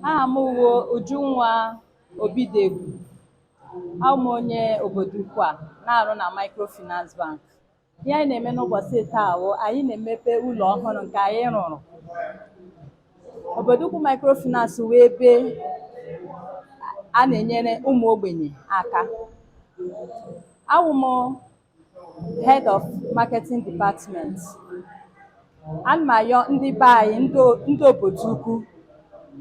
aha m wụ Ujunwa Obidegwu awụ m onye Obodoukwu na-arụ na Microfinance Bank ihe anyị na-eme n'ụbọchị taa wụ anyị na-emepe ụlọ ọhụrụ nke anyị rụrụ Obodoukwu Microfinance wụ ebe a na-enyere ụmụ ogbenye aka awụ m Head of Marketing Department. Ana m ayọ ndị be anyị ndị o- ndị Obodoukwu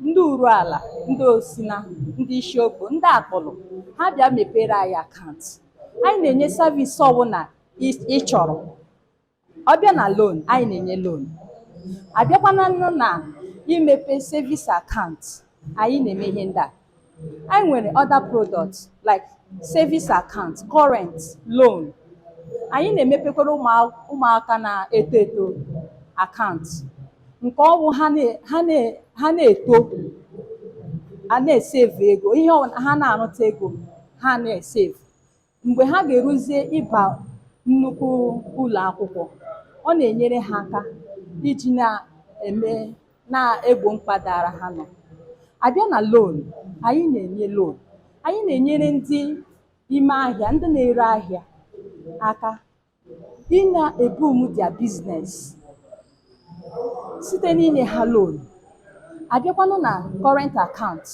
ndị Uruala ndị Osina ndị Isiokpo ndị Akpulu ha bịa mepere anyị akaụntụ anyị na-enye savisi ọbụla ị chọrọ ọ bịa na loan anyị na-enye loan abịakwana nụ na imepe savings account anyị na-eme ihe ndị a anyị nwere other products like savings account current loan anyị na-emepekwara ụmụaka na-eto eto akaụntụ nke ọ wụ ha na-eto a na-esevu ego ihe ha na-arụta ego ha na-esevu mgbe ha ga-eruzie ịba nnukwu ụlọ akwụkwọ ọ na-enyere ha aka iji na-eme na-egbo mkpa dara ha nọ abịa na loan anyị na-enye loan anyị na-enyere ndị ime ahịa ndị na-ere ahịa aka ị na-ebum their business site n'inye ha loan abịakwanụ na current account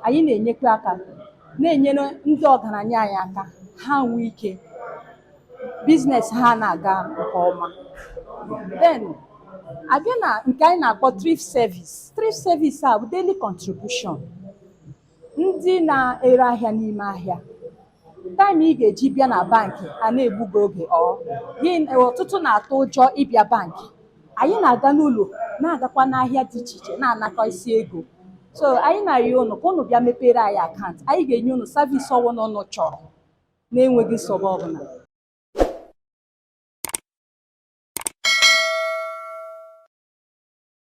anyị na-enyekwa aka na-enyere ndị ọgaranya anyị aka ha nwee ike business ha na-aga nke ọma then abịa na nke anyị na-akpọ thrift service thrift service a wụ daily contribution ndị na-ere ahịa n'ime ahịa time ị ga-eji bịa na bankị a na-egbu gị oge ọ ọtụtụ na-atụ ụjọ ịbịa bankị anyị na-aga n'ụlọ na-agakwa n'ahịa dị iche iche na-anakọ isi ego so anyị na-arịọ ụnụ ka ụnụ bịa mepere anyị akaụntụ anyị ga-enye ụnụ savisi ọbụla ụnụ chọrọ na-enweghị nsogbu ọbụla